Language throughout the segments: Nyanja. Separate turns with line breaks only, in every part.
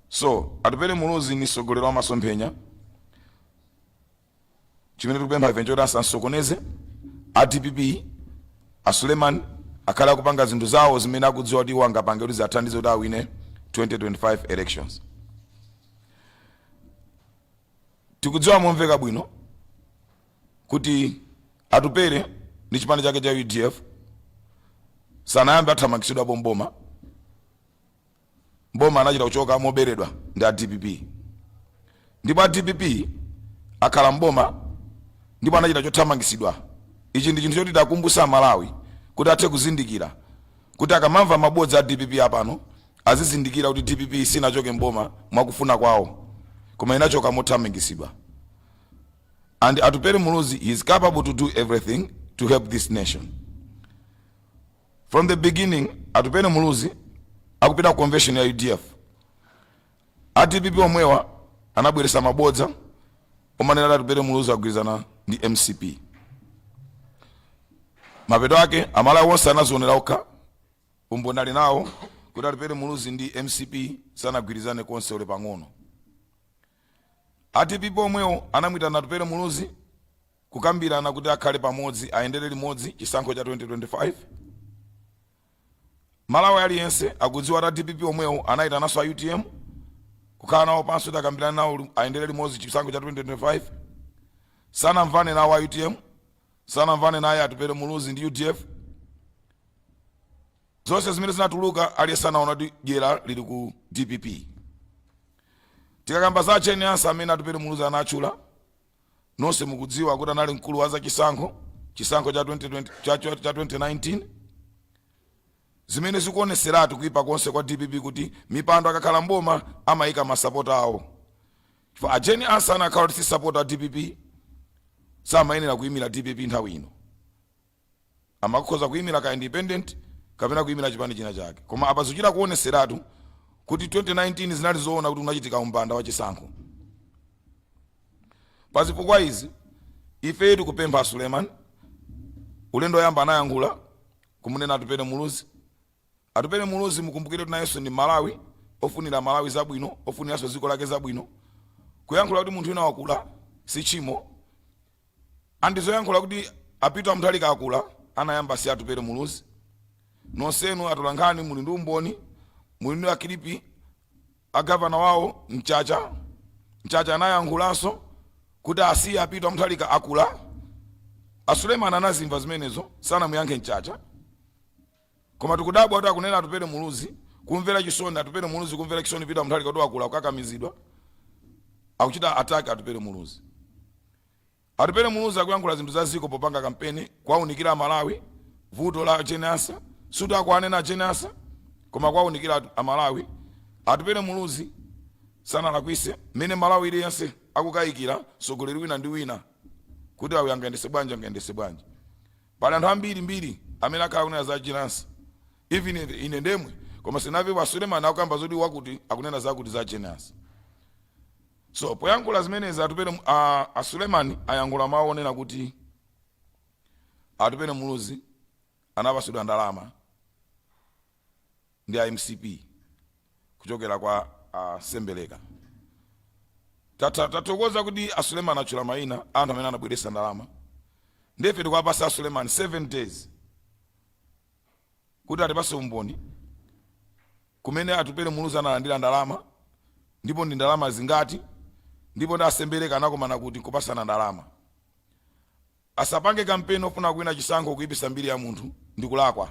so atupele muluzi ni sogolero wa masomphenya chimene tikupempha ife nchoti asansokoneze a dpp a suleiman akhale akupanga zinthu zawo zimene akudziwa kuti iwo angapange kuti ziathandize kuti awine 2025 elections Tikudziwa momveka bwino kuti Atupele ndi chipani chake cha udf sanayambe athamangitsidwapo mboma mboma anachita kuchoka moberedwa ndi a dpp ndipo a dpp akhala mboma ndipo anachita chothamangitsidwa ichi ndi chinthu choti takumbusa amalawi kuti athe kuzindikira kuti akamamva mabodza a dpp apano azizindikira kuti dpp sinachoke mboma mwakufuna kwawo koma inachoka mothamangisidwa and atupere muluzi he is capable to do everything to help this nation from the beginning atupere muluzi akupita ku convention ya udf a dpp omwewa anabweresa mabodza omanena kuti atupere muluzi agwirizana ndi mcp mapeto ake amalawi onse anazionera okha Umboni ali nawo kuti Atupele Muluzi ndi mcp sanagwirizane konse olo pang'ono. A dpp omwewo anamuitana Atupele Muluzi kukambirana kuti akhale pamodzi ayendere limodzi chisankho cha 2025. Mmalawi aliyense akudziwa kuti a dpp omwewo anaitananso a utm kukhala nawo pansi kuti akambirane nawo ayendere limodzi chisankho cha 2025. Sanamvane nawo a utm sanamvane naye Atupele Muluzi ndi udf. Zonse zimene zinatuluka aliyense anaona kuti dyera lili ku dpp. Tikakamba za a Jane Ansah amene Atupele Muluzi anatchula, nonse mukudziwa kuti anali mkulu wa zachisankho chisankho cha 2019 zimene zikuoneseratu kuipa konse kwa dpp kuti mipando akakhala mboma amayika masapota awo Chifukwa a Jane Ansah akanakhala kuti si sapota a dpp samayenera kuyimira dpp nthawi ino amakhoza kuyimira ka independent kapena kuyimira chipani china chake koma apa zikuchita kuoneseratu kuti 2019 zinali zoona kuti kunachitika umbanda wa chisankho pa zifukwa izi ife tikupempha a suleiman ulendo woyamba anayankhula kumunena atupele muluzi Atupele Muluzi mukumbukire kuti nayenso ndi Mmalawi ofunira Amalawi zabwino, ofuniranso dziko lake zabwino. Kuyankhula kuti munthu wina wakula si tchimo and zoyankhula kuti a Peter Mutharika akula anayamba si Atupele Muluzi. Nonsenu atolankhani muli ndi umboni, muli ndi ma kilipi a Governor wawo Mchacha, Mchacha anayankhulanso kuti asiye a Peter Mutharika akula. A Suleiman anazimva zimenezo, sanamuyankhe Mchacha. Koma tikudabwa kuti akunena Atupele Muluzi kumvera chisoni Atupele Muluzi kumvera chisoni Peter Mutharika kuti wakula kukakamizidwa akuchita attack Atupele Muluzi. Atupele Muluzi akuyankhula zinthu za ziko popanga kampeni kuwaunikira Amalawi vuto la Jane Ansah suti akuwanena Jane Ansah koma kuwaunikira atu- Amalawi. Atupele Muluzi sanalakwise mmene m'Malawi aliyense akukayikira mtsogoleri wina ndi wina kuti awa angayendese bwanji angayendese bwanji. Pali anthu ambiri mbiri amene akhala akunena za Jane Ansah even ine ndemwe koma sinavepo a Suleman akukamba zoti wakuti akunena zakuti za Jane Ansah so poyankhula zimenezi Atupele a a Suleman ayankhula mawu onena kuti Atupele Muluzi anapasidwa ndalama ndi a mcp kuchokera kwa a sembeleka Tatha- tathokoza kuti a suleman atchula maina anthu amene anabweresa ndalama nde ife tikuwapasa a suleman 7 days kuti atipase umboni kumene atupele muluzi analandira ndalama ndipo ndi ndalama zingati ndipo ndi asembeleka anakomana kuti kupasana ndalama Asapange kampeni ofuna kuwina chisankho kuipisa mbiri ya munthu ndikulakwa.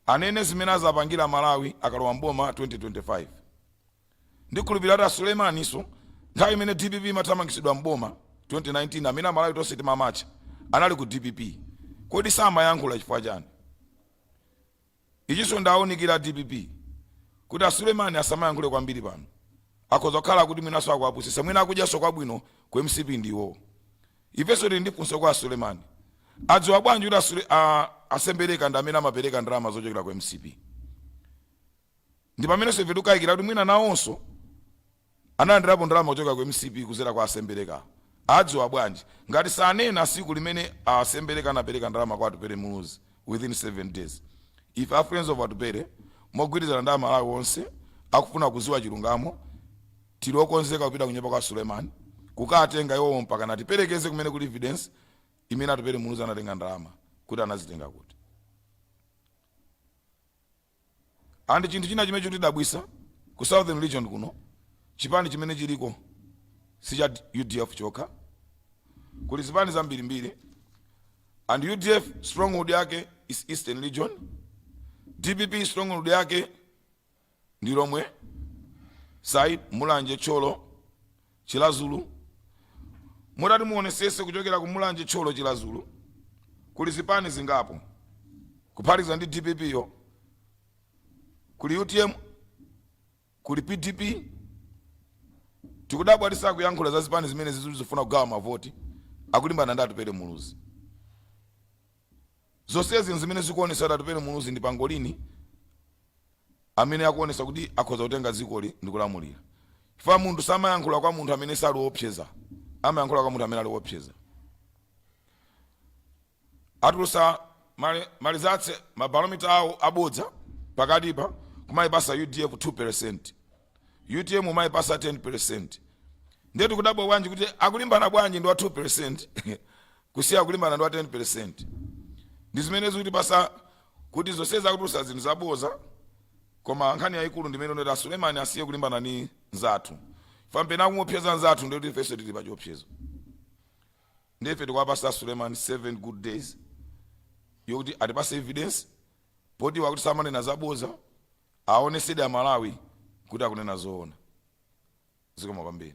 Anene zimene azapangira amalawi akalowa m'boma 2025. Ndikhulupilira kuti a Suleiman so nthawi imene dpp imathamangitsidwa m'boma 2019 amene amalawi tonse timamatcha anali ku dpp. Kodi samayankhula chifukwa chani? Ichiso ndawunikira a dpp kuti a Suleman asamayankhule kwambiri pano. Akhoza kukhala kuti mwinaso akuwapusisa mwina akudyaso kwabwino ku mcp ndi iwowo. Ifeso tili ndi funso kwa a Suleman. Adziwa bwanji kuti a Sule a a Sembeleka ndi amene amapereka ndalama zochokera ku mcp? Ndipameneso ife tikukayikira kuti mwina nawonso. analandilapo ndalama kuchokera ku mcp kuzera kwa asembeleka adziwa bwanji ngati sanena siku limene a sembeleka anapeleka ndalama kwa atupele muluzi within 7 days ife a friends of atupele mogwirizana ndi amalawi onse akufuna kuziwa chilungamo tili okonzeka kupita kunyumba kwa suleman kukatenga iwowo mpaka natipelekeze kumene kuli evidence imene atupele muluzi anatenga ndalama kuti anazitenga kuti And chinthu china chimene chikutidabwisa ku southern region kuno chipani chimene chiliko si cha udf chokha kuli zipani zambirimbiri and udf stronghold yake is eastern region dpp stronghold yake ndi Lhomwe side Mulanje Thyolo Chiradzulu Mutati muonesese kuchokera ku Mulanje Thyolo Chiradzulu kuli zipani zingapo kuphatikiza ndi dpp yo kuli utm kuli pdp tikudabwa kuti sakuyankhula za zipani zimene zizifuna kugawa mavoti akulimbana ndi Atupele Muluzi Zonsezi n'zimene zikuonetsa kuti Atupele Muluzi ndi pangolini amene akuonetsa kuti akhoza kutenga dzikoli ndi kulamulira. Chifukwa munthu samayankhula kwa munthu amene sali woopseza, amayankhula kwa munthu amene ali woopseza. Atulutsa ma rizatse mabalomita awo abodza pakatipa kumayipasa UDF 2%. UTM kumayipasa 10%. Ndiye tikudabwa bwanji kuti akulimbana bwanji ndi wa 2%? Kusiya kulimbana ndi wa 10% ndi zimene zikutipasa kuti zonsezi akutulusa zinthu zaboza koma nkhani yayikulu ndi imene ndi yoti a Suleman asiye kulimbana ndi nzathu chifukwa ngati akumuopseza nzathu ndikuti ifenso tili pa chiopsezo ndi ife tikuwapasa a Suleman 7 good days yokuti atipase evidence poti wakuti samanena zaboza aonesede a Malawi kuti akunena zoona zikomo kwambiri